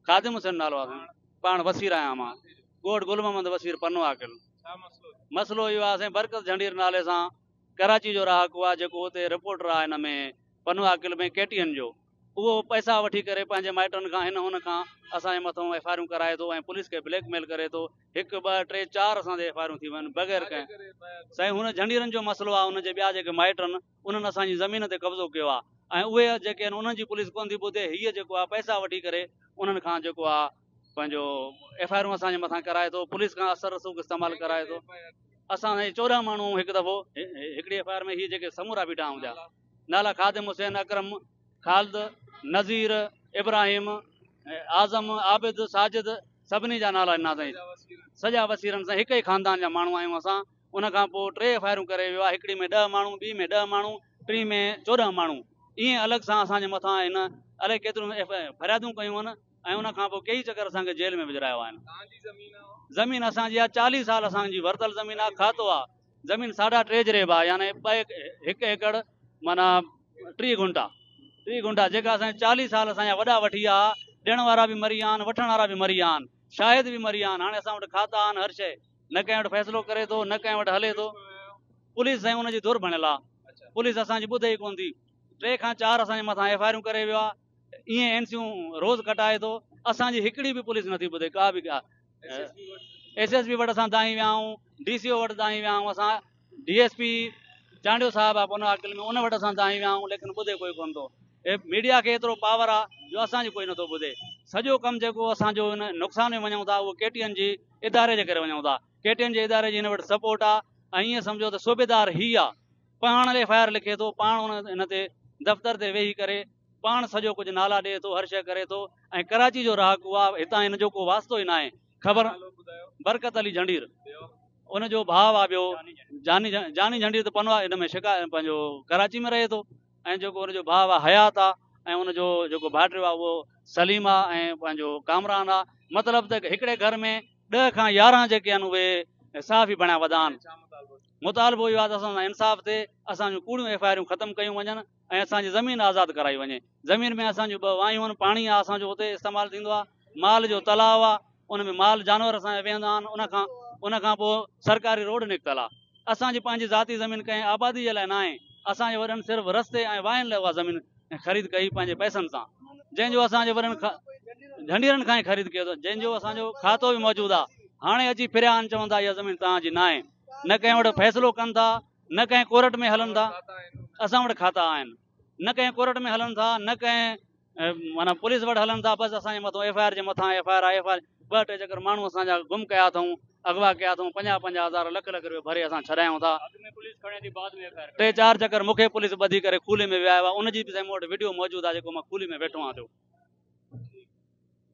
خادم حسين نالو آ سائين پاڻ وسير آهيان مان ڳوٺ گل محمد وسير پنو عاقل مسئلو اهو آ سائين برڪت جهنڊير نالي سان ڪراچي جو رهاڪو آ جيڪو اتي رپورٽر آ هن ۾ پنو عاقل ۾ ڪي ٽي اين جو اهو پئسا وٺي ڪري پنهنجي مائٽن کان هن هن کان اسان جي مٿو ايف آء آرون ڪرائي ٿو ۽ پوليس کي بليڪ ميل ڪري ٿو هڪ ٻه ٽي چار اسان تي ايف آء آرون ٿي ويون بغير ڪنهن سائين هن جهنڊيرن جو مسئلو آ ان جي ٻيا جيڪي مائٽن انهن اسان جي زمين تي قبضو ڪيو آ ۽ اهي جيڪي آهن انهن جي پوليس ڪونه ٿي ٻڌي هيء جيڪو آ پئسا وٺي ڪري انهن کان جيڪو آ پنهنجو ايف آء آرون اسان جي مٿان ڪرائي ٿو پوليس کان اثر رسوخ استعمال ڪرائي ٿو اسان سان چورهن ماڻهو هڪ دفعو هڪڙي ايف آء آر ۾ هي جيڪي سمورا بيٺا آهن جا نالا خادم حسين اڪرم خالد نذير ابراهيم اعظم عابد ساجد سڀني جا نالا ڏنا سائين سڄا وسيرن سان هڪ ئي خاندان جا ماڻهو آهيون اسان ان کان پوء ٽي فائرون ڪري ويو آهي، هڪڙي ۾ ڏهه ماڻهو، ٻي ۾ ڏهه ماڻهو، ٽين ۾ چوڏهن ماڻهو. ايئن الڳ سان اسان جي مٿان هن الائي ڪيتريون فريادون ڪيون آهن ۽ ان کان پوء ڪيئي چڪر اسان کي جيل ۾ وجهرايو آهن. زمين اسان جي آهي، چاليهه سال اسان جي ورتل زمين آهي، کاتو آهي. زمين ساڍا ٽي جريب آهي يعني ٻه هڪ ايڪڙ معنيٰ ٽيهه گهنٽا، ٽيهه گهنٽا جيڪا اسان جي چاليهه سال اسان جا وڏا وٺي ويا ها، ڏيڻ وارا به مري ويا آهن، وٺڻ وارا به مري ويا آهن، شاهد به مري ويا آهن، هاڻي اسان وٽ کاتا آهن، هر شيء. نه ڪنهن وٽ فيصلو ڪري ٿو نه ڪنهن وٽ هلي ٿو پوليس سائين ان جي ڌر ڀڻيل آ پوليس اسان جي ٻڌي ئي ڪون ٿي ٽي کان چار اسان جي مٿان ايف آئي آرون ڪري ويو آ ايئن اين سيون روز ڪٽائي ٿو اسان جي هڪڙي به پوليس نٿي ٻڌي ڪا به ڪا ايس ايس پي وٽ اسان دانهين ويا آهيون ڊي سي او وٽ دانهين ويا آهيون اسان ڊي ايس پي چانڊيو صاحب آف ان عاقل ۾ ان وٽ اسان دانهين ويا آهيون ليڪن ٻڌي ڪوئي ڪونه ٿو اي ميڊيا کي ايترو پاور آ جو اسان جي ڪوئي نٿو ٻڌي سڄو ڪم جيڪو اسان جو ان نقصان ۾ وڃون ٿا اهو ڪي ٽي اين جي اداري جي ڪري وڃون ٿا ڪي ٽي اين جي اداري جي هن وٽ سپورٽ آ ۽ ائين سمجهو ته صوبيدار هي آ پاڻ ايف آء آر لکي ٿو پاڻ ان هن تي دفتر تي ويهي ڪري پاڻ سڄو ڪجهه نالا ڏئي ٿو هر شيء ڪري ٿو ۽ ڪراچي جو رهاڪو آ هتان هن جو ڪو واسطو ئي ناهي خبر برڪت علي جھنڊير ان جو ڀاء آ ٻيو جاني جاني جھنڊير ته پنوا ان ۾ شڪا پنهنجو ڪراچي ۾ رهي ٿو ۽ جيڪو ان جو ڀاء آ حيات آ ۽ ان جو جيڪو ڀائٽيو آ اهو سليم آ ۽ پنهنجو ڪامران آ مطلب ته هڪڙي گھر ۾ ڏهه کان يارهن جيڪي آهن اهي صحافي بڻايا وڌا آهن مطالبو اهو آ ته اسان سان انصاف ٿئي اسان جون ڪوڙيون ايف آء آرون ختم ڪيون وڃن ۽ اسان جي زمين آزاد ڪرائي وڃي زمين ۾ اسان جون ٻه وايون آهن پاڻي آهي اسان جو اتي استعمال ٿيندو آهي مال جو تلاء آهي ان ۾ مال جانور اسان جا ويهندا آهن ان کان ان کان پوء سرڪاري روڊ نڪتل آهي اسان جي پنهنجي ذاتي زمين ڪنهن آبادي جي لاء نه آهي اسان جي وڏن صرف رستي ۽ واين لاء اها زمين خريد ڪئي پنهنجي پئسن سان جنهن جو اسان جي وڏن جھنڊيرن کان ئي خريد ڪيو اٿن جنهن جو اسان جو کاتو به موجود آهي هاڻي اچي ڦريا آهن چون ٿا اها زمين توهان جي نه آهي نه ڪنهن وٽ فيصلو ڪن ٿا نه ڪنهن ڪورٽ ۾ هلن ٿا، اسان وٽ کاتا آهن، نه ڪنهن ڪورٽ ۾ هلن ٿا، نه ڪنهن معنيٰ پوليس وٽ هلن ٿا، بس اسان جي مٿو ايف آء آر جي مٿان F I R I F I R, ٻه ٽي چڪر ماڻهو اسان جا گم ڪيا اٿئون، اغوا ڪيا اٿئون، پنجاهه پنجاهه هزار لک لک روپيو ڀري اسان ڇڏايون ٿا، ٽي چار چڪر مون کي پوليس ٻڌي ڪري کولي ۾ ويهايو آهي، ان جي به سائين مون وٽ وڊيو موجود آهي جيڪو مان کولي ۾ ويٺو آهيان ٿيو.